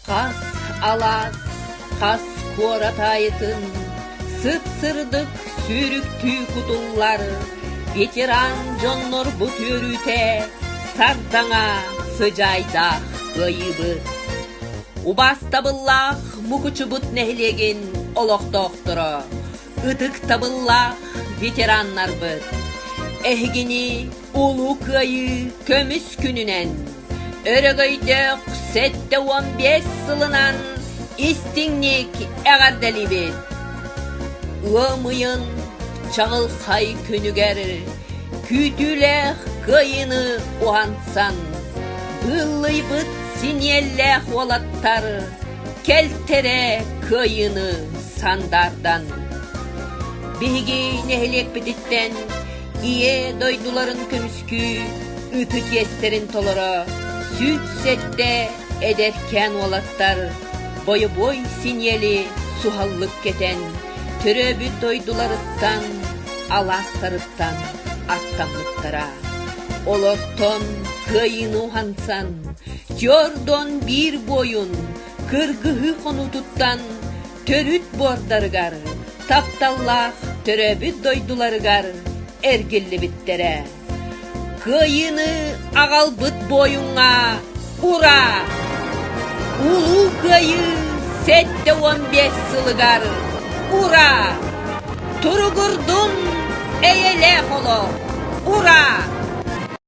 Хас алаас, хас куорат аайытын сыт-сырдык сүүрүктүү кутуллар ветеран дьоннорбут үөрүүтэ сардаҥа сыдьаайдаах кыайыыбыт. Убаастабыллаах Мукучубут нэһилиэгин олохтоохторо, ытыктабыллаах ветераннарбыт! Эһигини Улуу Кыайыы көмүс күнүнэн өрөгөйдөөх сэттэ уон биэс сылынан истиҥник эҕэрдэлиибит! Ыам ыйын чаҕылхай күнүгэр күүтүүлээх кыайыыны уһансан быыллыйбыт синиэллээх уолаттар кэлтэрэ кыайыыны сандаардан биһиги нэһилиэкпититтэн Ийэ дойдуларын көмүскүү ытык иэстэрин толоро сүүс сэттэ эдэркээн уолаттар бойобуой синиэли суһаллык кэтэн төрөөбүт дойдуларыттан алаастарыттан аттаммыттара. Олортон кыайыыны уһансан Джордон биир буойун кыргыһыы хонуутуттан төрүт буордарыгар, тапталлаах төрөөбүт дойдуларыгар эргиллибиттэрэ. Кыайыыны аҕалбыт буойуҥҥа ура! Улуу Кыайыы сэттэ уон биэс сылыгар ура! Туругурдун эйэлээх олох! Ура!